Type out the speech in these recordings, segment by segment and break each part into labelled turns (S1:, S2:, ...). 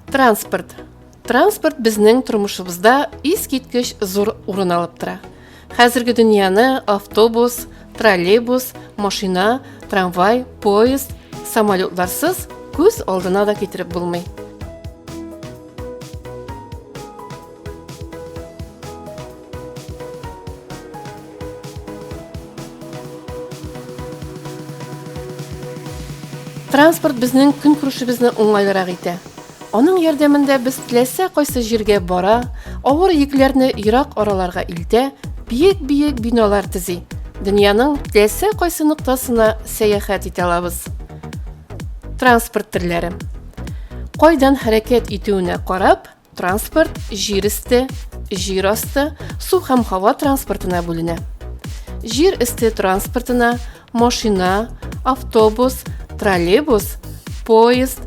S1: Транспорт. Транспорт безнең тормышыбызда искиткеч зур урын алып тора. Хәзерге дөньяны автобус, троллейбус, машина, трамвай, поезд, самолетларсыз күз алдына да китереп булмый. Транспорт безнең көнкүрешебезне уңайлырак итә. Аның ярдәмендә без теләсә кайсы җиргә бара, авыр йөкләрне ерак араларга илтә, биек-биек биналар төзи, дөньяның теләсә кайсы ноктасына сәяхәт итә алабыз. Транспорт төрләре. Кайдан хәрәкәт итүенә карап, Транспорт җир өсте, җир асты, су һәм һава транспортына бүленә. Җир өсте транспортына машина, автобус, троллейбус, поезд,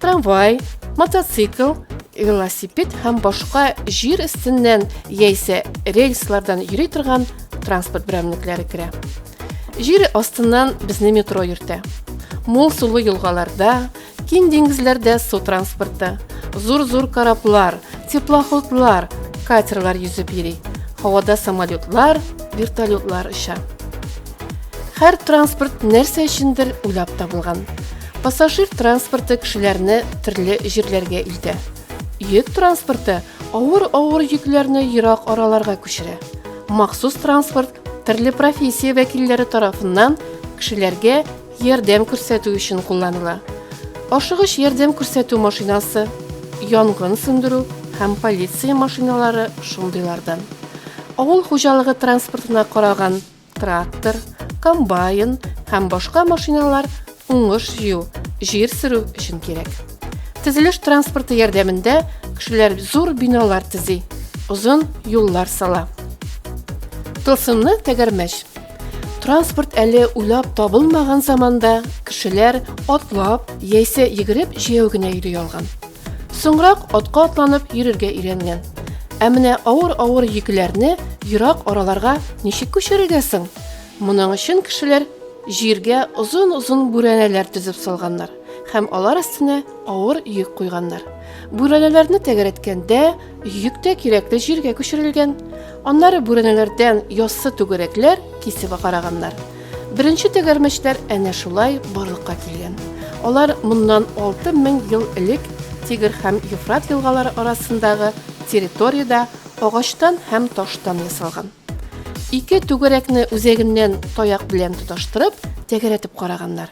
S1: трамвай, мотоцикл, велосипед һәм башка җир өстеннән яисә рельслардан йөри торган транспорт берәмлекләре керә. Җир астыннан безне метро йөртә. Мул сулы елгаларда, Киң диңгезләрдә су транспорты, зур-зур кораблар, теплоходлар, катерлар йөзеп йөри. Һавада самолетлар, вертолетлар оча. Һәр транспорт нәрсә өчендер уйлап табылган. Пассажир транспорты кешеләрне төрле җирләргә илтә. Йөк транспорты авыр-авыр йөкләрне ерак араларга күчерә. Махсус транспорт төрле профессия вәкилләре тарафыннан кешеләргә Ярдәм күрсәтү өчен кулланыла. Ашыгыч ярдәм күрсәтү машинасы, янгын сүндерү һәм полиция машиналары шундыйлардан. Авыл хуҗалыгы транспортына караган трактор, комбайн һәм башка машиналар уңыш җыю, җир сөрү өчен кирәк. Төзелеш транспорты ярдәмендә кешеләр зур биналар төзи, озын юллар сала. Тылсымны тәгәрмәч. Транспорт әле уйлап табылмаган заманда кешеләр атлап яисә йөгереп җәяү генә йөри алган. Соңрак атка атланып йөрергә өйрәнгән. Ә менә авыр-авыр йөкләрне ерак араларга ничек күчерергә соң? Моның өчен кешеләр җиргә озын-озын бүрәнәләр төзеп салганнар һәм алар өстенә авыр йөк куйганнар. Бүрәнәләрне тәгәрәткәндә, Йөк тә кирәкле җиргә күчерелгән. Аннары бүрәнәләрдән яссы түгәрәкләр кисеп агараганнар. Беренче тәгәрмәчләр әнә шулай барлыкка килгән. Алар моннан 6000 ел элек Тигр һәм Ефрат елгалары арасындагы территориядә агачтан һәм таштан ясалган. Ике түгәрәкне үзәгеннән таяк белән тоташтырып, тәгәрәтеп караганнар.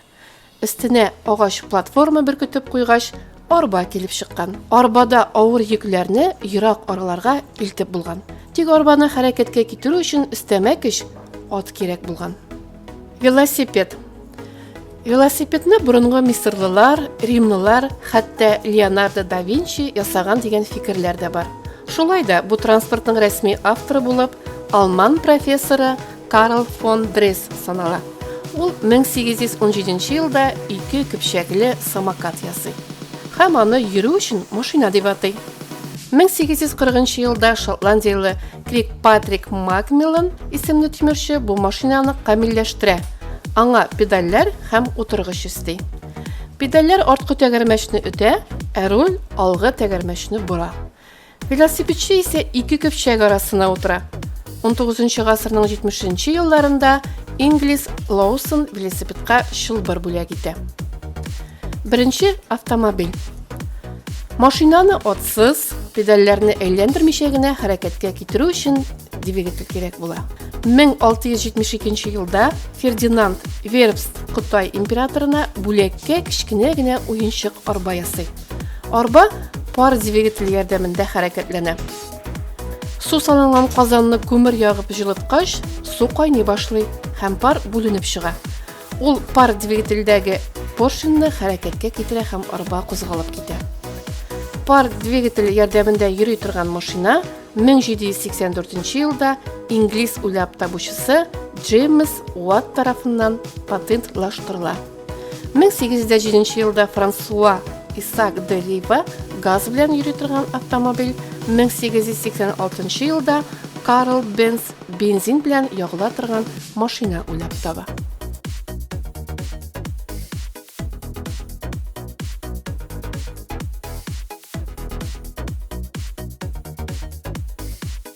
S1: Өстенә агач платформа беркетеп куйгач, арба килеп чыккан. Арбада авыр йөкләрне ерак араларга илтеп булган. Тик арбаны хәрәкәткә китерү өчен өстәмә көч ат кирәк булган. Велосипед. Велосипедны борынгы мисырлылар, римлылар, хәтта Леонардо да Винчи ясаган дигән фикерләр дә бар. Шулай да бу транспортның рәсми авторы булып, алман профессоры Карл фон Дресс санала. Ул 1817 елда ике көпчәкле самокат ясый һәм аны йөрү өчен машина дип атый. 1840 елда шотландияле Крик Патрик Макмиллан исемле тимерче бу машинаны камилләштерә. Аңа педальләр һәм утыргыч өсти. Педальләр арткы тәгәрмәчне үтә, ә руль алгы тәгәрмәчне бора. Велосипедчы исә ике көпчәк арасына утыра. Унтугызынчы гасырның җитмешенче елларында инглиз Лоусон велосипедка чылбыр бүләк итә. Беренче автомобиль. Машинаны отсыз, педальләрне әйләндермичә генә хәрәкәткә китерү өчен двигатель кирәк була. 1672 елда Фердинанд Вербст Кытай императорына бүләккә кечкенә генә уенчык арба ясый. Арба пар двигатель ярдәмендә хәрәкәтләнә. Су салынган казанны күмер ягып җылыткач, су кайный башлый һәм пар бүленеп чыга. Ул пар двигательдәге поршеньны хәрәкәткә китерә һәм арба кузгалып китә. Пар двигатель ярдәмендә йөри торган машина 1784 елда инглиз уйлап табучысы Джеймс Уатт тарафыннан патентлаштырыла. 1807 елда Франсуа Исак де Либа газ белән йөри торган автомобиль, 1886 елда Карл Бенц бензин белән ягыла торган машина уйлап таба.